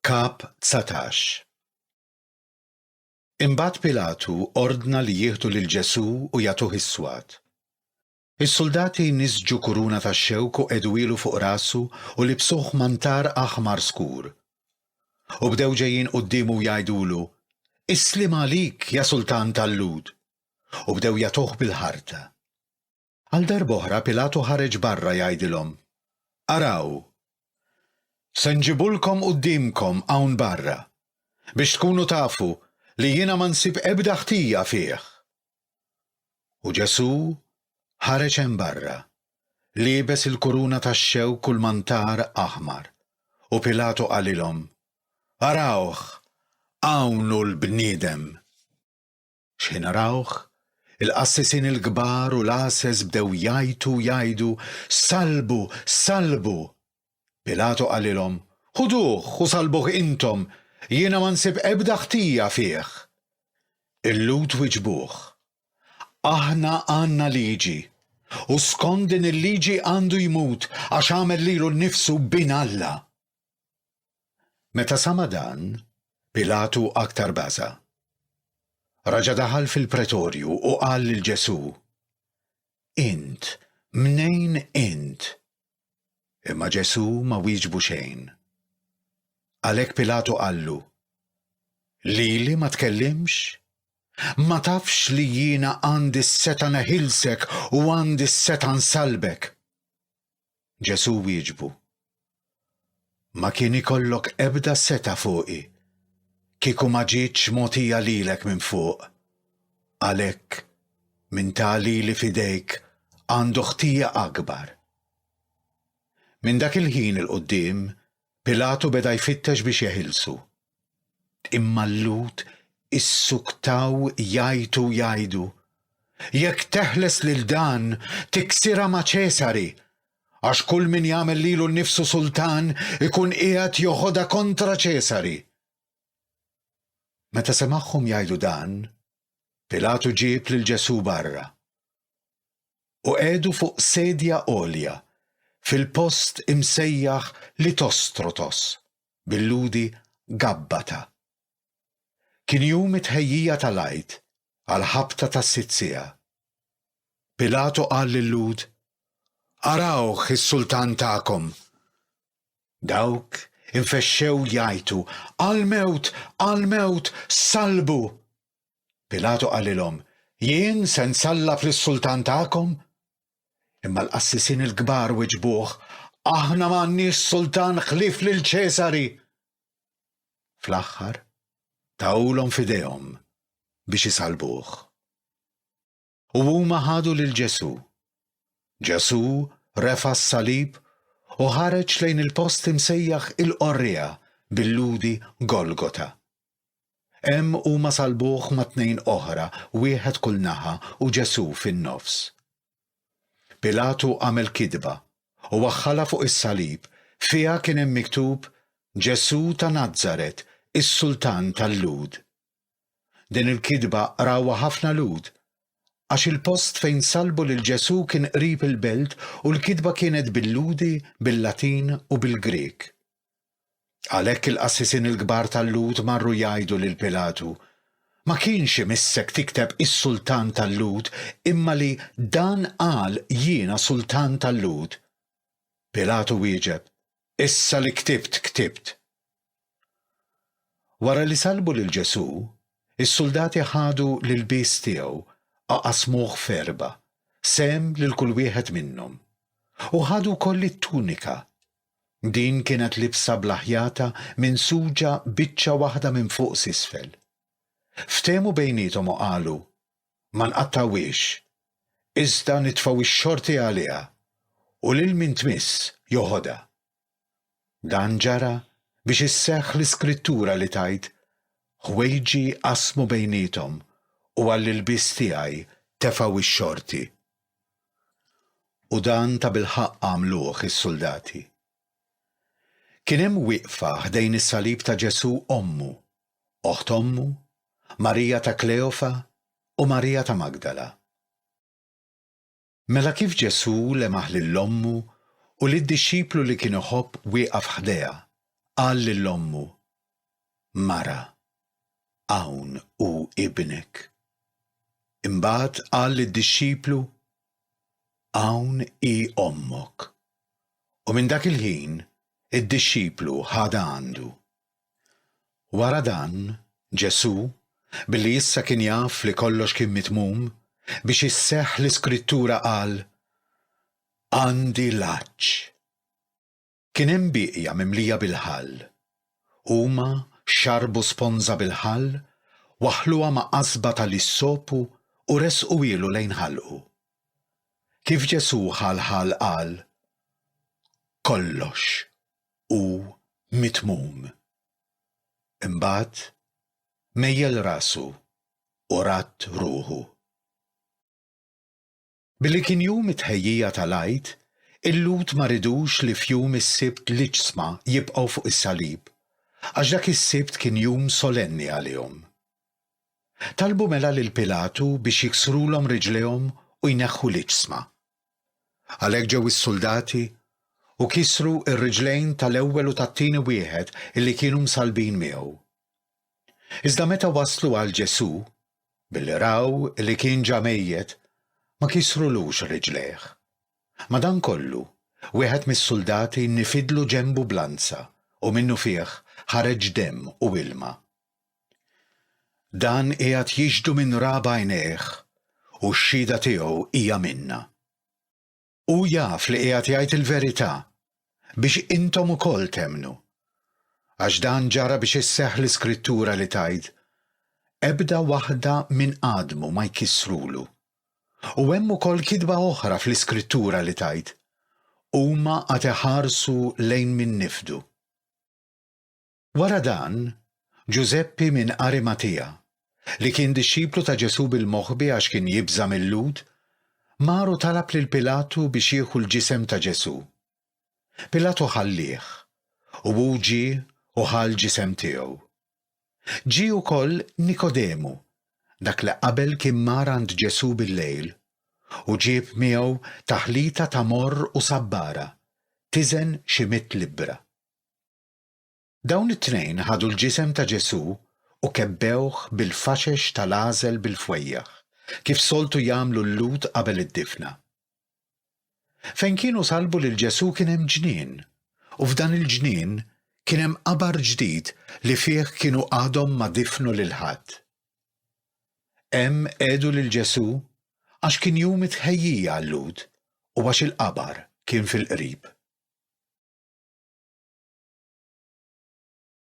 Kap 19 Imbagħad Pilatu ordna li jieħdu lil Ġesù u jagħtuh is-swat. Is-suldati nisġu kuruna tax-xewk u qegħduhielu fuq rasu u libsuh mantar aħmar skur. U bdew ġejjin quddiemu u jgħidulu, Is-sliem għalik, ja Sultan tal-Lhud! U bdew jagħtuh bil-ħarta. Għal darb'oħra Pilatu ħareġ barra jgħidilhom, Araw! Se nġibulkom quddiemkom hawn barra, biex tkunu tafu li jiena ma nsib ebda ħtija fih. U Ġesù ħareġ hemm barra, liebes il-kuruna tax-xewk u l-mantar aħmar, u Pilatu qalilhom, Arawh, hawn hu l-bniedem! X'ħin arawh, il-qassisin il-kbar u l-għases bdew jgħajtu u jgħidu, Sallbu! Sallbu! Pilatu qalilhom, Ħuduh u sallbuh intom, jiena ma nsib ebda ħtija fih. Il-Lhud wiġbuh, Aħna għandna liġi, u skont din il-liġi għandu jmut għax għamel lilu nnifsu bin Alla. Meta sama' dan, Pilatu aktar baża'. Raġa' daħal fil-pretorju u qal lil Ġesù, Int, mnejn int? Imma Ġesù ma wieġbu xejn. Għalhekk Pilatu qallu, Lili ma tkellimx? Ma tafx li jiena għandi s-setgħa neħilsek u għandi s-setgħa nsallbek? Ġesù wieġbu, Ma kien ikollok ebda setgħa fuqi kieku ma ġietx mogħtija lilek minn fuq. Għalhekk, min ta lili f'idejk għandu ħtija akbar. Minn dak il-ħin 'il quddiem Pilatu beda jfittex biex jeħilsu. Imma l-Lhud issuktaw jgħajtu u jgħidu, Jekk teħles lil dan, tiksirha ma' Ċesari, għax kull min jagħmel lilu nnifsu sultan ikun qiegħed joħodha kontra Ċesari. Meta semagħhom jgħidu dan, Pilatu ġieb lil Ġesù barra. u qegħdu fuq sedja għolja fil-post imsejjaħ Litostrotos, bil-Lhudi Gabbata. Kien jum it-tħejjija tal-Għid għal ħabta ta' sitt siegħa. Pilatu qal lil-Lhud, Arawh is-Sultan tagħkom! Dawk infexxew jgħajtu, Għall-mewt, għall-mewt, sallbu! Pilatu qalilhom, Jien se nsallaf lis-sultan tagħkom? Imma l-qassisin il-kbar wiġbuh, Aħna ma għandniex sultan ħlief lil Ċesari! Fl-aħħar, tawlhom f'idejhom biex isalbuh. u huma ħadu lil Ġesù. Ġesù refa' s-salib u ħareġ lejn il-post imsejjaħ il-Qorriegħa bil-Lhudi Golgota. Hemm huma salbuh ma' tnejn oħra, wieħed kull naħa u Ġesù fin-nofs. Pilatu għamel kidba u waħħalha fuq is-salib, fiha kien hemm miktub Ġesù ta' Nazaret, is-Sultan tal-Lhud. Din il-kitba qrawha ħafna Lhud, għax il-post fejn sallbu lil Ġesù kien qrib il-belt u l-kitba kienet bil-Lhudi, bil-Latin u bil-Grieg. Għalhekk il-qassisin il-kbar tal-Lhud marru jgħidu lil Pilatu, Ma kienx imissek tikteb is-sultan tal-Lhud, imma li dan qal jiena sultan tal-Lhud. Pilatu wieġeb, Issa li ktibt, ktibt. Wara li sallbu lil Ġesù, is-suldati ħadu l-ilbies tiegħu a qasmuh f'erbgħa, sehem lil kull wieħed minnhom. U ħadu wkoll it-tunika. Din kienet libsa bla ħjata minsuġa biċċa waħda minn fuq s'isfel. Ftehmu bejniethom u qalu, Ma nqattgħuhiex, iżda nitfgħu x-xorti għaliha, u lil min tmiss joħodha. Dan ġara biex isseħħ l-iskrittura li tgħid, Ħwejġi qasmu bejniethom u għall-ilbies tiegħi tefgħu x-xorti. U dan tabilħaqq għamluh is-suldati. Kien hemm wieqfa ħdejn is-salib ta' Ġesù ommu, oħt ommu, Marija ta' Kleofa u Marija ta' Magdala. Mela kif Ġesù lemaħ lil ommu u lid-dixxiplu li kien iħobb wieqaf ħdejha, qal lil ommu, Mara, hawn hu ibnek. Imbagħad qal lid-dixxiplu, Hawn hi ommok. U minn dak il-ħin, id-dixxiplu ħadha għandu. Wara dan, Ġesù, billi issa kien jaf li kollox kien mitmum biex isseħħ l-Iskrittura qal, Għandi l-għatx. Kien hemm bieqja mimlija bil-ħall. Huma xarbu sponża bil-ħall, waħħluha ma' qasba tal-issopu u ressquhielu lejn ħalqu. Kif Ġesù ħa l-ħall qal, Kollox! u mitmum. Imbagħad mejjel rasu u radd ruħu. Billi kien jum it-tħejjija tal-Għid, il-Lhud ma ridux li f'jum is-Sibt l-iġsma jibqgħu fuq is-salib, għax dak is-Sibt kien jum solenni għalihom. Talbu mela lil Pilatu biex jiksrulhom riġlejhom u jneħħu l-iġsma. Għalhekk ġew is-suldati u kisru r-riġlejn tal-ewwel u tat-tieni wieħed illi kienu msallbin miegħu. Iżda meta waslu għal Ġesù, billi raw li kien ġa mejjet, ma kisrulux riġlejh. Madankollu, wieħed mis-suldati nifidlu ġenbu b'lanza u minnufih ħareġ demm u ilma. Dan qiegħed jixhdu minn ra b'għajnejh u x-xhieda tiegħu hija minna. Hu jaf li qiegħed jgħid il-verità biex intom ukoll temmnu. Għax dan ġara biex isseħħ l-Iskrittura li tgħid, Ebda waħda minn għadmu ma jkissrulu. U hemm ukoll kitba oħra fl-Iskrittura li tgħid, Huma għad iħarsu lejn min nifdu. Wara dan, Ġużeppi minn Arimatea, li kien dixxiplu ta' Ġesù bil-moħbi għax kien jibża' mil-Lhud, mar u talab lil Pilatu biex jieħu l-ġisem ta' Ġesù. Pilatu ħallieh, u hu ġie u ħa l-ġisem tiegħu. Ġie wkoll Nikodemu, dak li qabel kien mar għand Ġesù bil-lejl, u ġieb miegħu taħlita ta' morr u sabbara, tiżen xi mitt libbra. Dawn it-tnejn ħadu l-ġisem ta' Ġesù u kebbewh bil-faxex tal-għażel bil-fwejjaħ, kif soltu jagħmlu l-Lhud qabel id-difna. Fejn kienu sallbu lil Ġesù kien hemm ġnien, u f'dan il-ġnien kien hemm qabar ġdid li fih kienu għadhom ma difnu lil ħadd. Hemm qegħdu lil Ġesù għax kien jum it-tħejjija għal-Lhud u għax il-qabar kien fil-qrib.